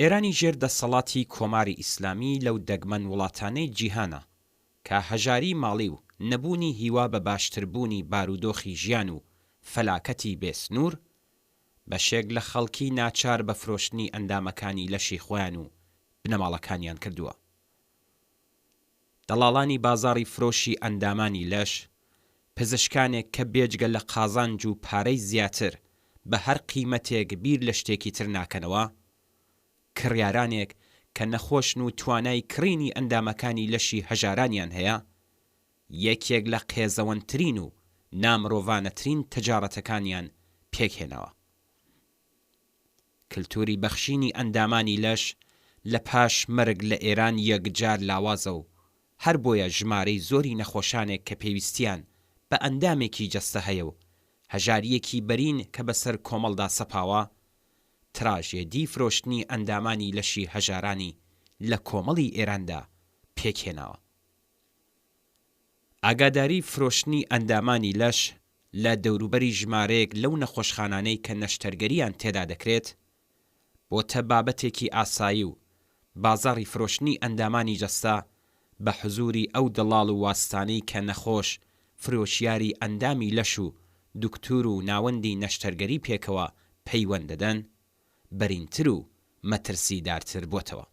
ئێرانی ژێر دەسەڵاتی کۆماری ئیسلامی لەو دەگمەن وڵاتانەی جیهانە کە هەژاری ماڵی و نەبوونی هیوا بە باشتربوونی بارودۆخی ژیان و فەلاکەتی بێ سنوور، بەشێک لە خەڵکی ناچار بە فرۆشتنی ئەندامەکانی لەشی خۆیان و بنەماڵەکانیان کردووە دەڵاڵانی بازاڕی فرۆشی ئەندامانی لەش، پزشکانێک کە بێجگە لە قازانج و پارەی زیاتر بە هەر قیمەتێک بیر لە شتێکی تر ناکەنەوە، کڕیارانێک کە نەخۆشن و توانای کڕینی ئەندامەکانی لەشی هەژارانیان هەیە، یەکێک لە قێزەوەنترین و نامرۆڤانەترین تەجاڕەتەکانیان پێکهێناوە. کلتوری بەخشینی ئەندامانی لەش لە پاش مەرگ لە ئێران یەکجار لاوازە و هەر بۆیە ژمارەی زۆری نەخۆشانێک کە پێویستیان بە ئەندامێکی جەستە هەیە و هەژارییەکی بەرین کە بە سەر کۆمەڵدا سەپاوە، تراژێدی فرۆشتنی ئەندامانی لەشی هەژارانی لە کۆمەڵی ئێراندا پێکهێناوە. ئاگاداری فرۆشتنی ئەندامانی لەش لە دەوروبەری ژمارەیەک لەو نەخۆشخانانەی کە نەشتەرگەرییان تێدا دەکرێت، بۆتە بابەتێکی ئاسایی و بازاڕی فرۆشتنی ئەندامانی جەستە بە حزووری ئەو دەڵاڵ و واسیتانەی کە نەخۆش فرۆشیاری ئەندامی لەش و دوکتور و ناوەندی نەشتەرگەری پێکەوە پەیوەند دەدەن، بەرینتر و مەترسیدارتر بۆتەوە.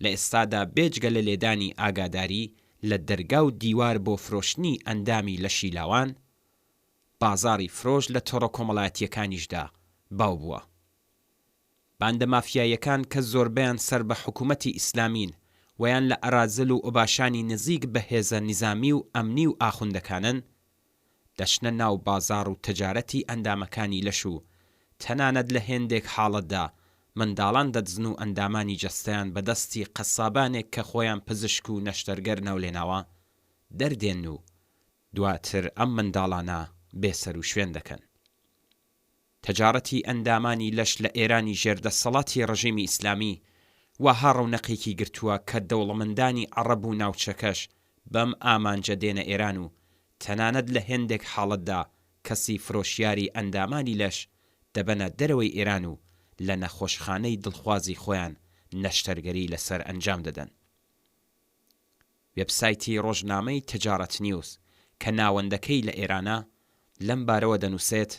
لە ئێستادا بێجگە لە لێدانی ئاگاداری لە دەرگا و دیوار بۆ فرۆشتنی ئەندامی لەشی لاوان، بازاڕی فرۆش لە تۆڕە کۆمەڵایەتییەکانیشدا باو بووە. باندە مافیاییەکان کە زۆربەیان سەر بە حکوومەتی ئیسلامین ویان لە ئەرازل و ئۆباشانی نزیک بە هێزە نیزامی و ئەمنی و ئاخوندەکانن، دەچنە ناو بازاڕ و تەجارەتی ئەندامەکانی لەش و تەنانەت لە هێندێک حاڵەتدا منداڵان دەدزن و ئەندامانی جەستەیان بە دەستی قەسابانێک کە خۆیان پزشک و نەشتەرگەر ناولێناوە دەردێن و دواتر ئەم منداڵانە بێسەروشوێن دەکەن. تەجاڕەتی ئەندامانی لەش لە ئێرانی ژێر دەستەڵاتی ڕژێمی ئیسلامی واها ڕەونەقێکی گرتووە کە دەوڵەمەندانی عەڕەب و ناوچەکەش بەم ئامانجە دێنە ئێران و تەنانەت لە هێندێک حاڵەتدا کەسی فرۆشیاری ئەندامانی لەش دەبەنە دەرەوەی ئێران و لە نەخۆشخانەی دڵخوازی خۆیان نەشتەرگەری لەسەر ئەنجام دەدەن. وێبسایتی ڕۆژنامەی تجارت نیوز کە ناوەندەکەی لە ئێرانە، لەم بارەوە دەنووسێت،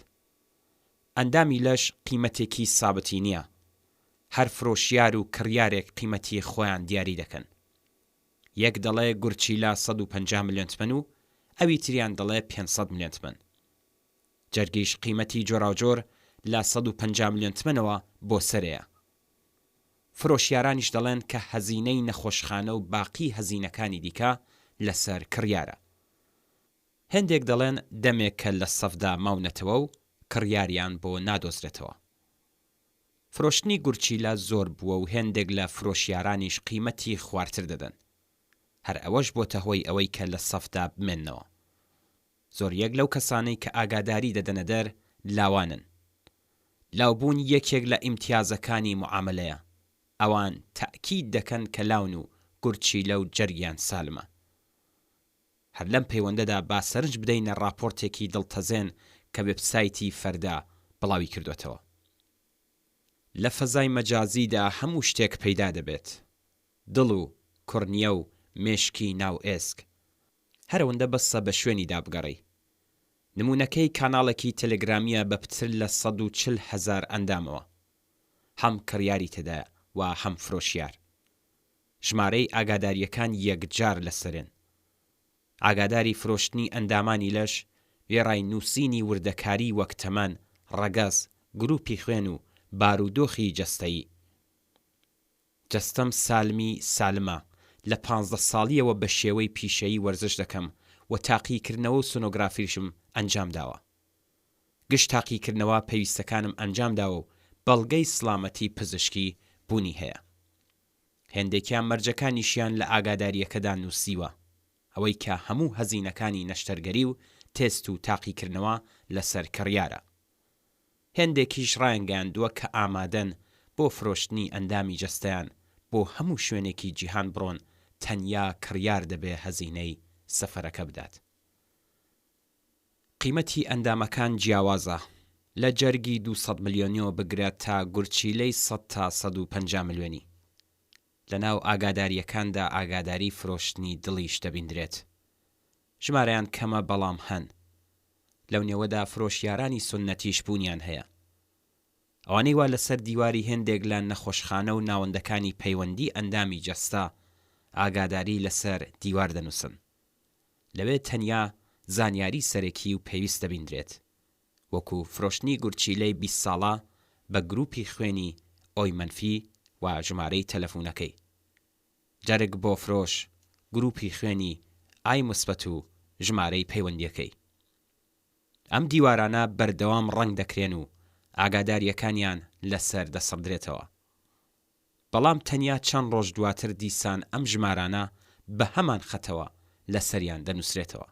ئەندامی لەش قیمەتێکی سابتی نییە، هەر فرۆشیار و کڕیارێک قیمەتی خۆیان دیاری دەکەن. یەک دەڵێ گورچیلە سەد و پەنجا ملیۆن تمەن و ئەوی تریان دەڵێ پێنج سەد ملیۆن تمەن. جەرگیش قیمەتی جۆراوجۆر لە سەد و پەنجا ملیۆن تمەنەوە بۆ سەرێیە. فرۆشیارانیش دەڵێن کە هەزینەی نەخۆشخانە و باقی هەزینەکانی دیکە لەسەر کڕیارە. هێندێک دەڵێن دەمێکە لە سەفدا ماونەتەوە و کڕیاریان بۆ نادۆزرێتەوە. فرۆشتنی گورچیلە زۆر بووە و هێندێک لە فرۆشیارانیش قیمەتی خوارتر دەدەن. هەر ئەوەش بۆتە هۆی ئەوەی کە لە سەفدا بمێننەوە. زۆریەک لەو کەسانەی کە ئاگاداری دەدەنە دەر لاوانن. لاوبوون یەکێک لە ئیمتیازەکانی موعامەلەیە. ئەوان تەئکید دەکەن کە لاون و گورچیلە و جەرگیان سالمە. هەر لەم پەیوەندەدا با سەرنج بدەینە ڕاپۆرتێکی دڵتەزێن کە وێبسایتی فەردا بڵاوی کردۆتەوە. لە فەزای مەجازیدا هەموو شتێک پەیدا دەبێت. دڵ و کورنیە و مێشکی ناو ئێسک. هەرەوەندە بەسە بە شوێنی دابگەڕی. نموونەکەی کاناڵێکی تێلێگرامییە بە پتر لە سەد و چل هەزار ئەندامەوە. هەم کڕیاری تێدایە و هەم فرۆشیار. ژمارەی ئاگادارییەکان یەکجار لەسەرێن. ئاگاداری فرۆشتنی ئەندامانی لەش، وێڕای نووسینی وردەکاری وەک تەمەن، ڕەگەز، گرووپی خوێن و بارودۆخی جەستەیی. جەستەم سالمی سالمە، لە پانزدە ساڵییەوە بە شێوەی پیشەیی وەرزش دەکەم و تاقیکردنەوە و سۆنۆگرافیشم ئەنجام داوە. گشت تاقیکردنەوە پێویستەکانم ئەنجام داوە و بەڵگەی سڵامەتی پزیشکی بوونی هەیە. هێندێکیان مەرجەکانیشیان لە ئاگادارییەکەدا نووسیوە. ئەوەی کە هەموو هەزینەکانی نەشتەرگەری و تێست و تاقیکردنەوە لەسەر کڕیارە. هێندێکیش ڕایانگەیاندووە کە ئامادەن بۆ فرۆشتنی ئەندامی جەستەیان بۆ هەموو شوێنێکی جیهان بڕۆن تەنیا کڕیار دەبێ هەزینەی سەفەرەکە بدات. قیمەتی ئەندامەکان جیاوازە لە جەرگی دوو سەد ملیۆنیەوە بگرە تا گورچیلەی سەد تا سەد و پەنجا ملیۆنی. لەناو ئاگادارییەکاندا ئاگاداری فرۆشتنی دڵیش دەبیندرێت. ژمارەیان کەمە بەڵام هەن. لەو نێوەدا فرۆشیارانی سوننەتیش بوونیان هەیە. ئەوانەی وا لەسەر دیواری هێندێک لە نەخۆشخانە و ناوەندەکانی پەیوەندی ئەندامی جەستە ئاگاداری لەسەر دیوار دەنووسن. لەوێ تەنیا زانیاری سەرەکی و پێویست دەبیندرێت. وەکو فرۆشتنی گورچیلەی بیست ساڵە بە گروپی خوێنی ئۆی مەنفی و ژمارەی تەلەفونەکەی جەرگ بۆ فرۆش گروپی خوێنی ئای موسبەت و ژمارەی پەیوەندیەکەی ئەم دیوارانە بەردەوام ڕەنگ دەکرێن و ئاگاداریەکانیان لەسەر دەسڕدرێتەوە بەڵام تەنیا چەند ڕۆژ دواتر دیسان ئەم ژمارانە بەهەمان خەتەوە لەسەریان دەنوسرێتەوە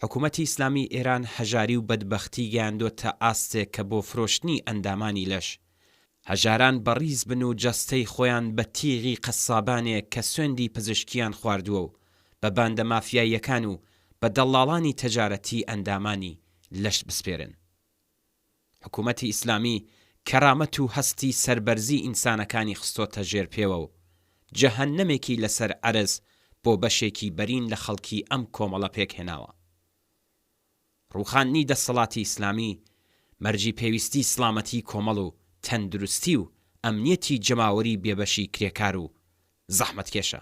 حکوومەتی ئیسلامیی ئێران هەژاری و بەدبەختی گەیاندۆتە ئاستێک کە بۆ فرۆشتنی ئەندامانی لەش، هەژاران بەڕیز بن و جەستەی خۆیان بە تیغی قەسابانێک کە سوێندی پزیشکییان خواردووە و بە باندە مافیاییەکان و بە دەڵاڵانی تەجارەتی ئەندامانی لەش بسپێرن. حکوومەتی ئیسلامی کەرامەت و هەستی سەربەرزی ئینسانەکانی خستۆتە ژێر پێوە و جەهەننەمێکی لەسەر عەرز بۆ بەشێکی بەرین لە خەڵکی ئەم کۆمەڵە پێک هێناوە. ڕووخاندنی دەستەڵاتی ئیسلامی مەرجی پێویستی سڵامەتی کۆمەڵ و تەندروستی و ئەمنیەتی جەماوەری بێبەشی کرێکار و زەحمەتکێشە.